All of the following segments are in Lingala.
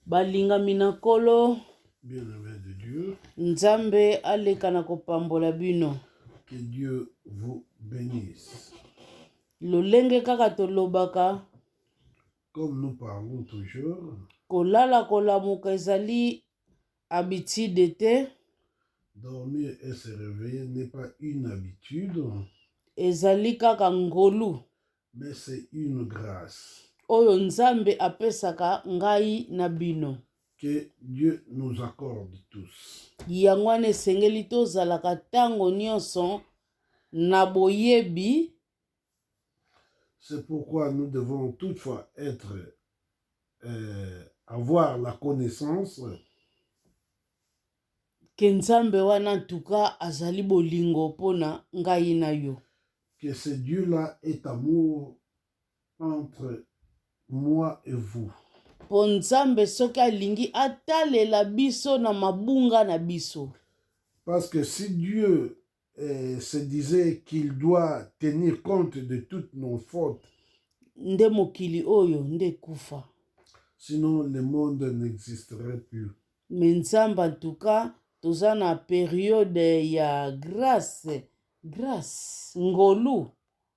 Balingami na Nkolo, Nzambe aleka na kopambola bino. Que Dieu vous benisse. Lolenge kaka tolobaka Comme nous parlons toujours, kolala kolamuka ezali habitude te, dormir et se réveiller n'est pas une habitude, ezali kaka ngolu. Mais c'est une grâce. Oyo Nzambe apesaka ngai na bino. Que Dieu nous accorde tous. Yango wana esengeli tozalaka ntango nyonso na boyebi. C'est pourquoi nous devons toutefois être euh, avoir la connaissance Que Nzambe wana en tout cas azali bolingo pona ngai na yo. Que ce Dieu là est amour entre moi et vous. Po Nzambe soki alingi atalela biso na mabunga na biso. Parce que si Dieu euh, se disait qu'il doit tenir compte de toutes nos fautes. nde mokili oyo nde ekufa Sinon, le monde n'existerait plus. me nzambe en tout cas toza na periode ya grace grace ngolu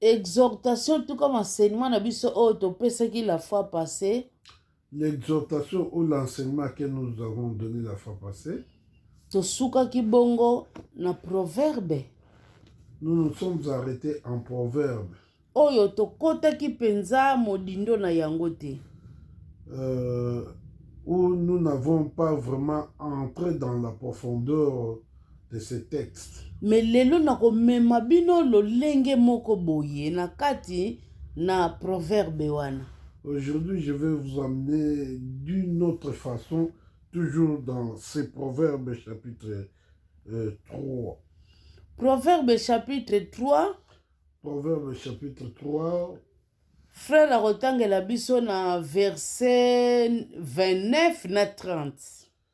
Exhortation en tout cas enseignement na biso oyo topesaki la fois passée. L'exhortation ou l'enseignement que nous avons donné la fois passée. Tosukaki bongo na proverbe. Nous nous sommes arrêtés en proverbe. Oyo tokotaki mpenza modindo na yango te. Euh, où nous n'avons pas vraiment entré dans la profondeur de ce texte. Mais lelo nakomema bino lolenge moko boye na kati na proverbe wana. Aujourd'hui, je vais vous amener d'une autre façon, toujours dans ces proverbes chapitre euh, 3. Proverbe chapitre 3. Proverbe chapitre 3. Frère akotangela biso na verset 29 na 30.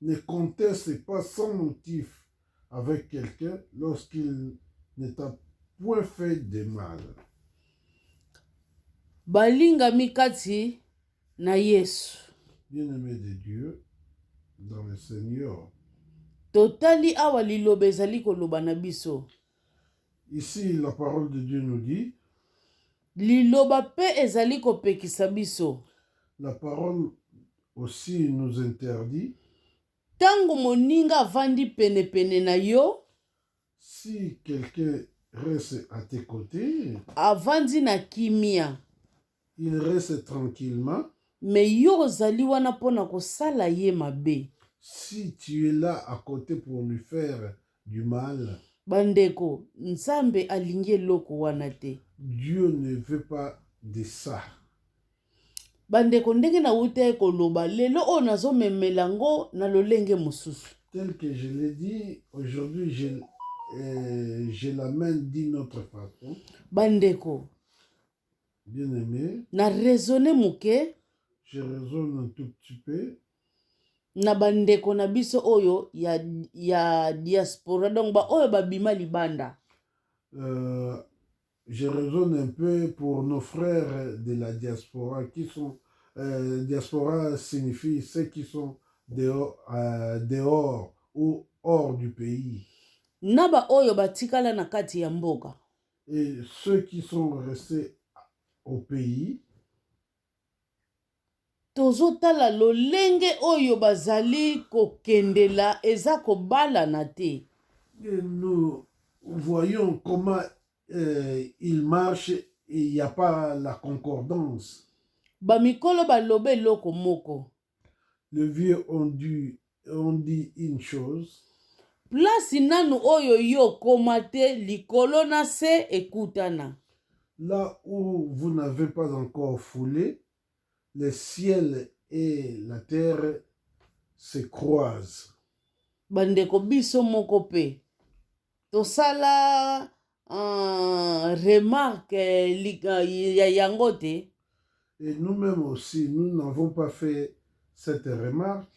Ne conteste pas sans motif avec quelqu'un lorsqu'il ne t'a point fait de mal. Balingami kati na Yesu. Bien-aimé de Dieu dans le Seigneur. Totali awa liloba ezali koloba na biso. Ici la parole de Dieu nous dit liloba mpe ezali kopekisa biso la parole aussi nous interdit. Tango moninga avandi pene pene na yo. Si quelqu'un reste à tes côtés. Avandi na kimia. Il reste tranquillement. Mais yo ozali wana pona kosala ye mabe. Si tu es là à côté pour lui faire du mal. Ba ndeko, Nzambe alingi eloko wana te. Dieu ne veut pas de ça. Ba ndeko, ndenge nawutaki koloba, lelo oyo nazo memela yango na lolenge mosusu. Tel que je l'ai dit, aujourd'hui je, euh, je l'amène d'une autre façon. Ba ndeko, Bien aimé, na raisonner moke, je raisonne un tout petit peu. na bandeko na biso oyo ya, ya diaspora donc baoyo babima libanda euh, je raisonne un peu pour nos frères de la diaspora qui sont euh, diaspora signifie ceux qui sont dehors, euh, dehors ou hors du pays na baoyo batikala na kati ya mboka et ceux qui sont restés au pays tozotala lolenge oyo bazali kokendela eza kobalana te. Nous voyons comment il marche il ya pas la concordance. Ba mikolo baloba eloko moko Le vieux on dit, on dit une chose. Place nanu oyo yo okoma te likolo na se ekutana. Là où vous n'avez pas encore foulé, le ciel et la terre se croisent. Bandeko biso moko pe tosala Ah, remarque eh, li- ah, ya yango te Et nous-mêmes aussi, nous n'avons pas fait cette remarque.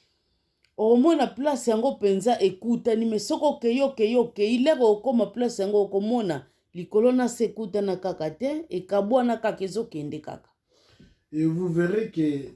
okomona place yango mpenza ekutani me soki okei okei okei leke okoma place yango okomona likolo na se ekutana kaka te ekabwana kaka ezokende kaka Et vous verrez que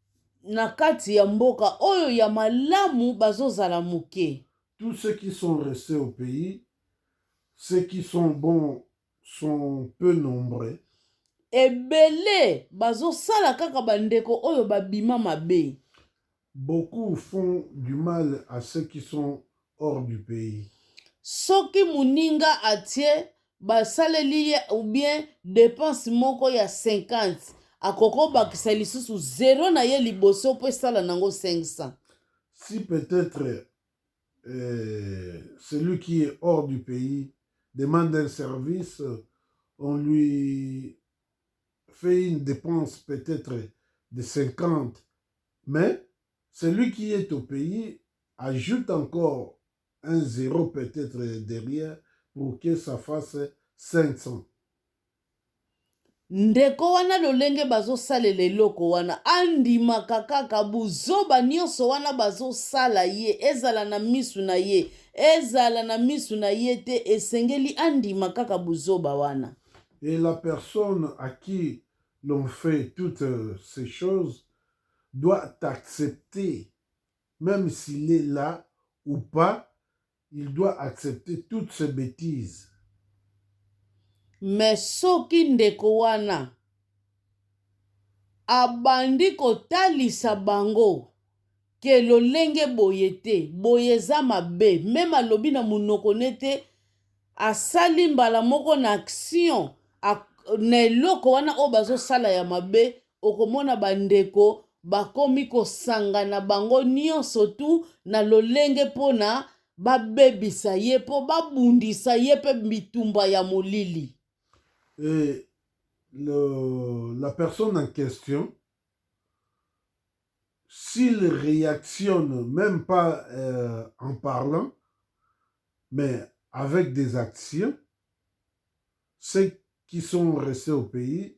na kati ya mboka oyo ya malamu bazo zala muke. Tout ce qui sont reste au pays ce qui sont bon sont peu nombreux. Ebele bazo sala kaka ba ndeko oyo ba bima mabe. Beaucoup font du mal à ce qui sont hors du pays. Soki muninga atie ba saleli ye ou bien depense moko ya 50 akoki ko bakisa lisusu zero na ye liboso po esala nango 500. Si peut etre eh, celui qui est hors du pays demande un service on lui fait une depense peut etre de 50 mais Celui qui est au pays ajoute encore un zero peut etre derrière pour que ça fasse 500. Ndeko wana lolenge bazo salela eloko wana andimaka kaka buzoba nionso wana bazo sala ye ezala na misu na ye ezala na misu na ye te esengeli andima kaka buzoba wana. Et la personne à qui l'on fait toutes ces choses doit t'accepter meme s'il est là ou pas il doit accepter toutes ces betises. Mais soki ndeko wana abandi kotalisa bango ke lolenge boye te boye eza mabe meme alobi na monoko ne te asali mbala moko na action na eloko wana oyo bazosala ya mabe okomona ba ndeko bakomi kosangana bango nionso tout na lolenge pona babebisa ye po babundisa ye pe bitumba ya molili. Et le, la personne en question, s'il reactionne meme pas euh, en parlant, mais avec des actions, ceux qui sont restés au pays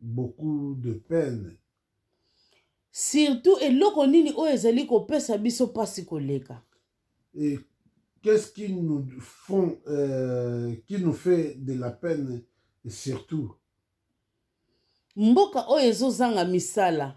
beaucoup de peine. Surtout eloko nini oyo ezali kopesa biso pasi koleka? Et qu'est-ce qui nous font euh, qui nous fait de la peine surtout? Mboka oyo ezozanga misala.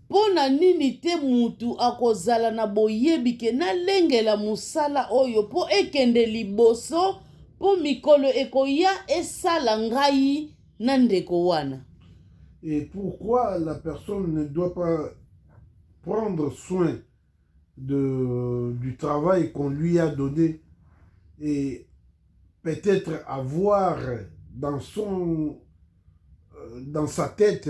Mpo na nini te mutu akozala na boyebi ke nalengela mosala oyo mpo ekende liboso, mpo mikolo ekoya esala ngai na ndeko wana? Et pourquoi la personne ne doit pas prendre soin de, du travail qu'on lui a donne et peut-etre avoir dans son, dans sa tete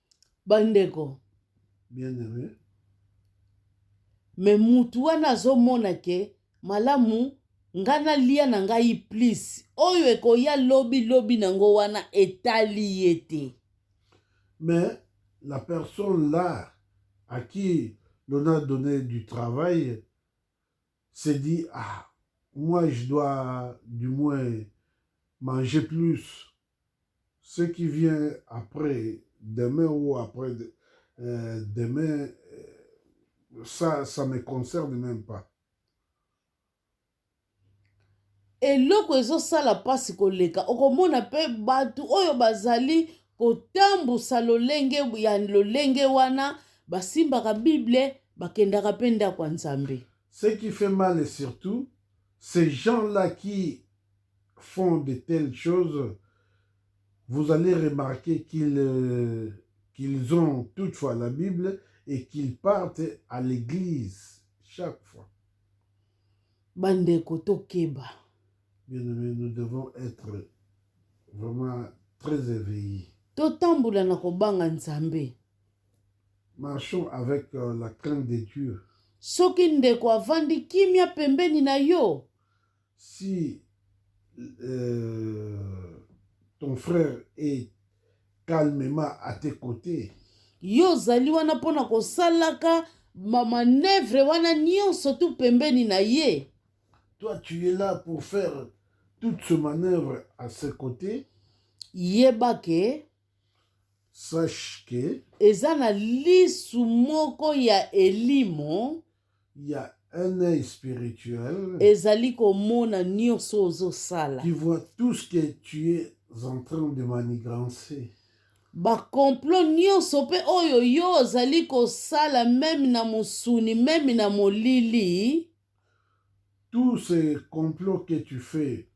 Bandeko. Bien aime. Mais mutu wana azomona ke malamu nga nalia na ngai plus oyo ekoya lobi lobi na ngo wana etali ye te. Mais la personne là à qui l'on a donné du travail s'est dit ah moi je dois du moins manger plus ce qui vient après demain ou après demain ça ça me concerne même pas eloko ezosala mpasi koleka okomona mpe bato oyo bazali kotambusa lolenge ya lolenge wana basimbaka bible bakendaka mpe ndako ya nzambe ce qui fait mal et surtout ces gens là qui font de telles choses, vous allez remarquer qu'ils euh, qu'ils ont toutefois la Bible et qu'ils partent à l'église chaque fois. Bandeko tokeba. Bien aimé, nous devons être vraiment très éveillés. Totambola na kobanga Nzambe. Marchons avec euh, la crainte de Dieu. Soki ndeko avandi kimia pembeni na yo. Si euh, ton frère est calmement à tes côtés. Yo ozali wana mpo na kosalaka mamanevre wana nyonso tu pembeni na ye. Toi tu es là pour faire toute ce manœuvre à ses côtés. Yeba ke sache que eza na lisu moko ya elimo ya un œil spirituel ezali komona nyonso ozosala qui voit tout ce que tu es en train de manigancer bakomplo nyonso mpe oyo yo ozali kosala meme na mosuni meme na molili Tout ce complot que tu fais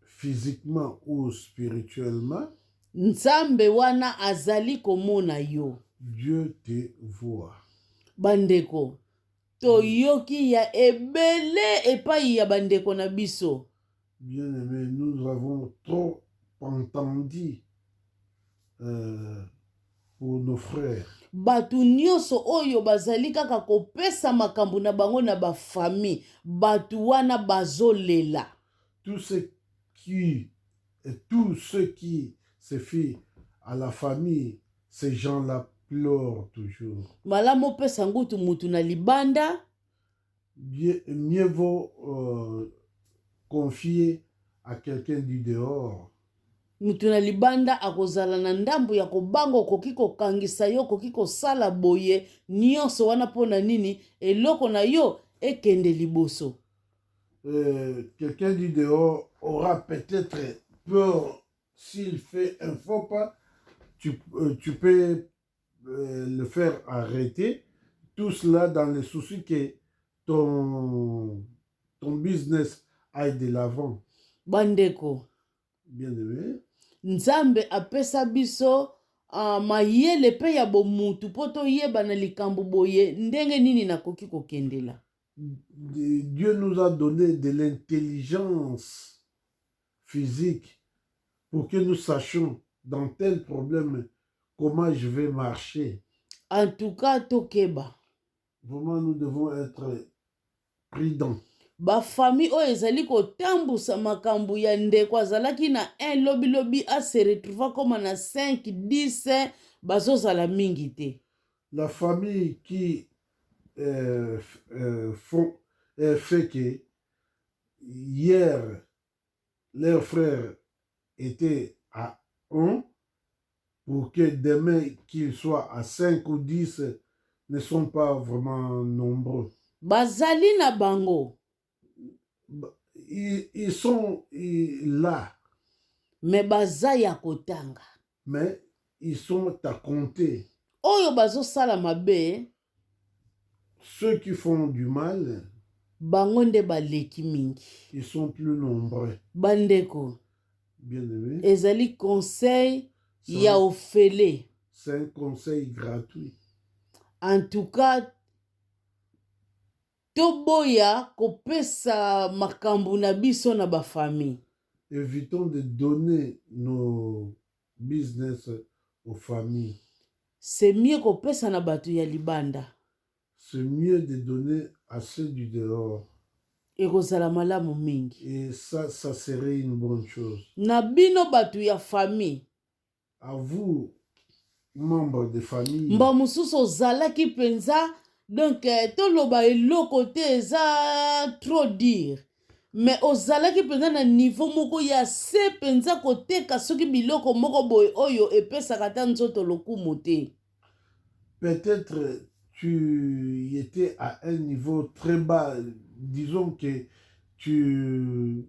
physiquement ou spirituellement. Nzambe wana azali komona yo. Dieu te voit. Bandeko, toyoki ya ebele epai ya bandeko na biso. Bien aimé, nous avons trop entendu euh, pour nos frères. bato nyonso oyo bazali kaka kopesa makambo na bango na ba famille bato wana bazolela tout ce qui et tout ce qui se fit à la famille ces gens là pleurent toujours. malamu opesa ngutu mutu na libanda. mieux vaut euh, confier à quelqu'un du dehors moto na libanda akozala na ndambo ya kobanga okoki kokangisa yo okoki kosala boye nyonso wana mpo na nini eloko na yo ekende liboso euh, quelqu'un du dehors aura peut-être peur s'il fait un faux pas tu, euh, tu peux euh, le faire arrêter tout cela dans le souci que ton, ton business aille de l'avant. Bandeko. Bien aimé. Nzambe apesa biso uh, mayele mpe ya bomutu mpo toyeba na likambo boye ndenge nini nakoki kokendela. Dieu nous a donné de l'intelligence. physique pour que nous sachions dans tel problème comment je vais marcher. En tout cas, Tokeba. Vraiment, nous devons être prudents. bafamille oyo ezali kotambusa makambo ya ndeko azalaki na 1 lobilobi ase retrouva koma na 5 10 bazozala mingi te la famille qui euh, euh, font, euh, fait que hier leur frère etait à 1 pour que demain qu'il soit à 5 ou 10 ne sont pas vraiment nombreux. Bazali na bango. Ils, ils sont ils, là. Mais baza ya kotanga. Mais ils sont à compter. Oyo bazosala mabe. Ceux qui font du mal. Bango nde baleki mingi. Ils sont plus nombreux. Bandeko. Bien aimé. Ezali conseil ya ofele. C'est un conseil gratuit. En tout cas, Toboya kopesa makambu na biso na ba famille. Evitons de donner nos business aux familles. C'est mieux kopesa na batu ya libanda. C'est mieux de donner à ceux du dehors. Ekozala malamu mingi. Et ça, ça serait une bonne chose. Na bino batu ya famille. mba mosusu ozalaki mpenza donk eh, toloba eloko te eza trop dire me ozalaki mpenza na nivo moko ya se mpenza koteka soki biloko moko boye oyo epesaka ata nzoto lokumu te peut-être tu étais à un niveau très bas disons que tu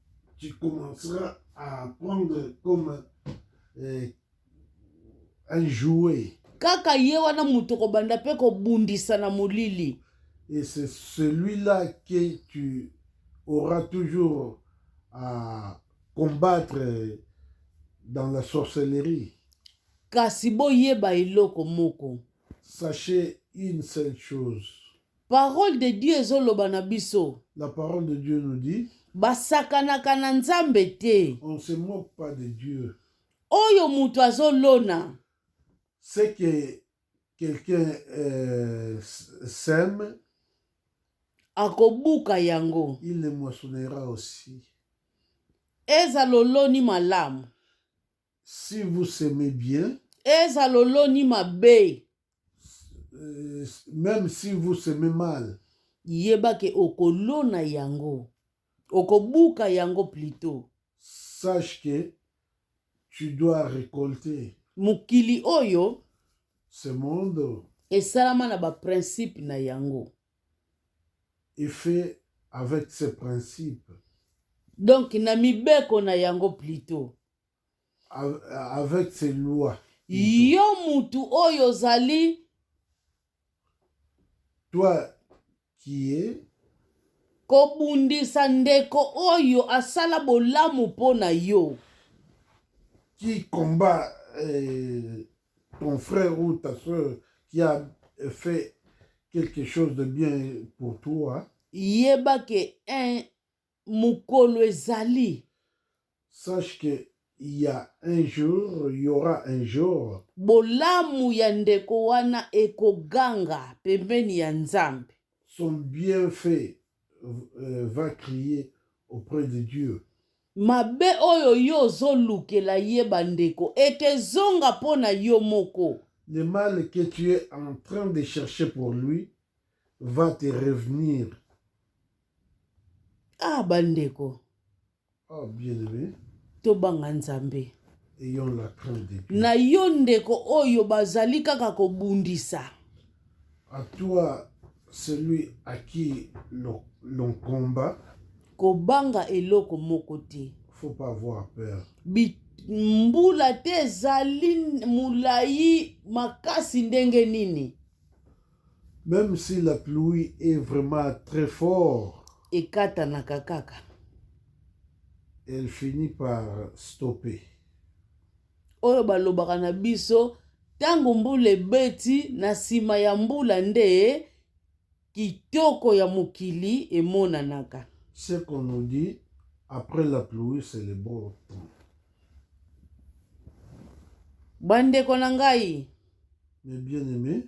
tu commenceras à prendre comme euh, un jouet. Kaka ye wana moto kobanda mpe kobundisa na molili. Et c'est celui-là que tu auras toujours à combattre dans la sorcellerie. Kasi boyeba eloko moko. Sachez une seule chose. Parole de Dieu ezo loba na biso. La parole de Dieu nous dit. Basakanaka na Nzambe te. On ne se moque pas de Dieu. Oyo moto azo lona. C'est que quelqu'un euh, sème akobuka yango il le moissonnera aussi ezala oloni malamu Si vous s'aimez bien. Eza loloni mabe. Euh, même si vous s'aimez mal. Yeba ke okolona yango. Okobuka yango plutôt. Sache que tu dois récolter. Mokili oyo. Ce monde. Esalama na ba principe na yango. Et fait avec ses principes. Donc na mibeko na yango plutôt. avec ses lois yo mutu oyo ozali toi qui est kobundisa ndeko oyo asala bolamu mpo na yo qui combat euh, ton frère ou ta soeur qui a fait quelque chose de bien pour toi yeba ke un Mokolo ezali. Sache que il ya un jour, il y'aura un jour. Bolamu ya ndeko wana ekoganga pembeni ya Nzambe. Son bienfait va crier auprès de Dieu. Mabe oyo yo ozolukela ye bandeko ekezonga mpo na yo moko. Le mal que tu es en train de chercher pour lui va te revenir. ah bandeko oh, tobanga nzambe na yo ndeko oyo bazali kaka kobundisa à toi celui à qui l'on combat kobanga eloko moko te faut pas avoir peur mbula te ezali molai makasi ndenge nini Meme si la pluie est vraiment très fort. Ekatanaka kaka. Elle finit par stopper. Oyo balobaka na biso ntango mbula ebeti na nsima ya mbula nde kitoko ya mokili emonanaka. Ce qu'on nous dit après la pluie c'est le beau temps. Bandeko na ngai. Mes bien-aimés.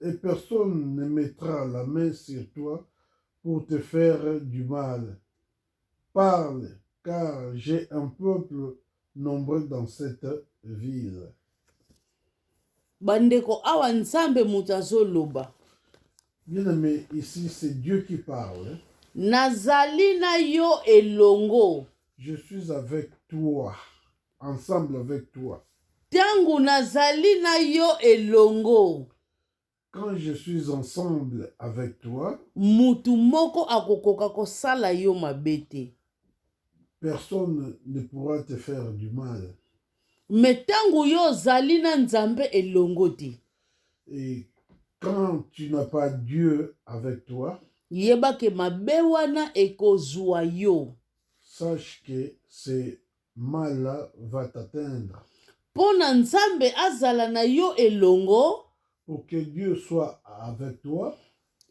et personne ne mettra la main sur toi pour te faire du mal. Parle, car j'ai un peuple nombreux dans cette ville. Bandeko awa nzambe moto azoloba. Bien aimé, ici c'est Dieu qui parle. Nazali na yo elongo. Je suis avec toi. ensemble avec toi. Tango nazali na yo elongo. Quand je suis ensemble avec toi. Mutu moko akokoka kosala yo mabe te. Personne ne pourra te faire du mal. Me tango yo ozali na Nzambe elongo te. Et quand tu n'as pas Dieu avec toi. Yeba ke mabe wana ekozwa yo. Sache que c'est Mal va t'atteindre. Mpo na Nzambe azala na yo elongo. Pour que Dieu soit avec toi.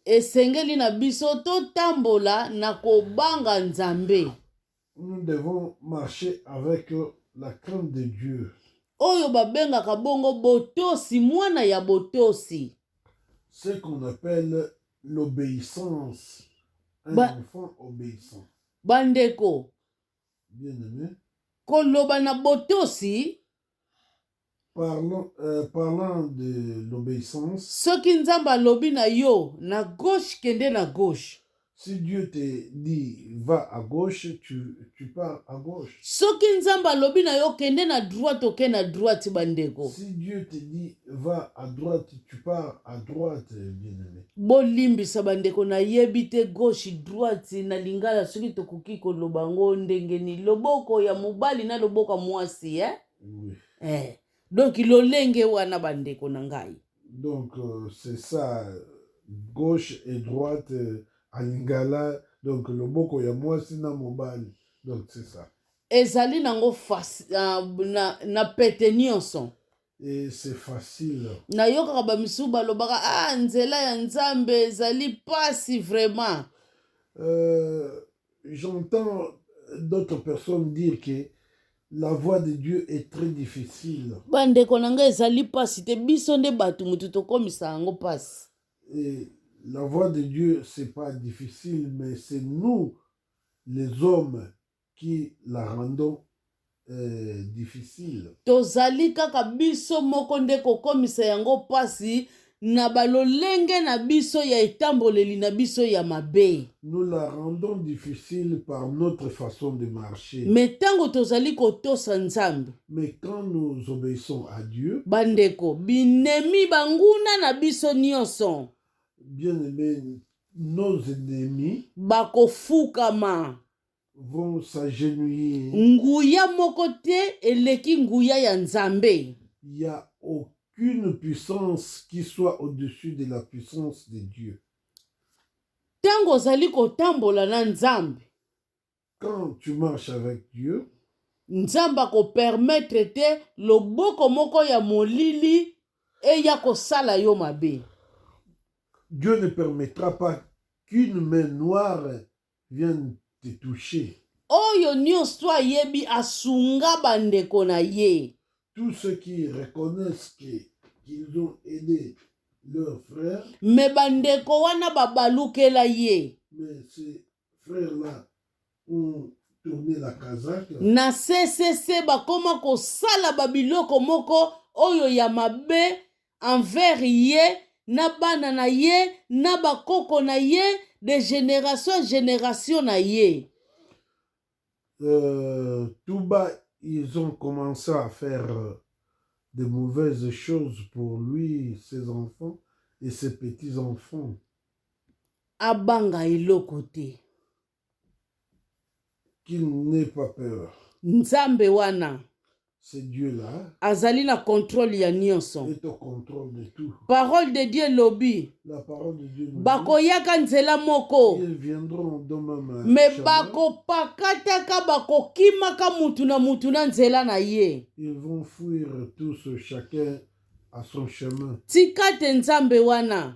Esengeli na biso totambola na kobanga Nzambe. Nous devons marcher avec la crainte de Dieu. Oyo babengaka bongo botosi, mwana ya botosi. Ce qu'on appelle l'obéissance. Un ba, enfant obéissant. Bandeko, koloba na botosi Parlant, euh, parlant de l'obéissance, soki nzambe alobi na yo na gauche kende na gauche si Dieu te dit va à gauche, tu, tu pars à gauche. soki nzambe alobi na yo kende na droite oke na droite bandeko Si Dieu te dit Va à droite, tu pars à droite, bien-aimé. bolimbisa bandeko nayebi te gauche droite na lingala soki tokoki koloba yango ndenge nini loboko ya mobali na loboko ya mwasi eh? Oui. Eh. donc lolenge wana bandeko na ngai Donc, euh, c'est ça, gauche et droite euh, en lingala, donc loboko ya mwasi na mobali. Donc, c'est ça. ezali nango fasi- ah, na, na pete nyonso nayokaka bamisusu balobaka a ah, nzela ya nzambe ezali mpasi vraiment euh, j'entends d'autres personnes dire que la voix de dieu est très difficile bandeko na ngai ezali mpasi te biso nde bato motu tokomisa yango mpasi la voix de dieu c'est pas difficile mais c'est nous les hommes qui la rendons euh, difficile. Tozali kaka biso moko nde kokomisa yango mpasi na balolenge na biso ya etamboleli na biso ya mabe. Nous la rendons difficile par notre façon de marcher. Me ntango tozali kotosa Nzambe, Mais quand nous obéissons à Dieu, bandeko, binemi banguna na biso nyonso bien aimé, nos ennemis bakofukama. vont s'agenouiller. Nguya moko te eleki nguya ya Nzambe. Il y a aucune puissance qui soit au-dessus de la puissance de Dieu. Tango ozali kotambola na Nzambe. Quand tu marches avec Dieu. Nzambe akopermettre te loboko moko ya molili eya kosala yo mabe. Dieu ne permettra pas qu'une main noire Viens te toucher. Oyo nionso ayebi asunga ba ndeko na ye. Tous ceux qui reconnaissent que qu'ils ont aidé leur frère. Mais ba ndeko wana ba balukela ye. Mais ce frère là ont tourné la casaque. Na CCC bakoma kosala ba biloko moko oyo ya mabe envers ye na bana na ye na bakoko na ye de generation en generation na ye euh, tout bas ils ont commencé à faire euh, de mauvaises choses pour lui ses enfants et ses petits enfants abanga eloko te Qu'il n'ait pas peur. Nzambe wana azali na controle ya nyonso. Parole de Dieu elobi bakoyaka nzela moko me bakopakataka bakokimaka mutu na mutu na nzela na ye. Tika te Nzambe wana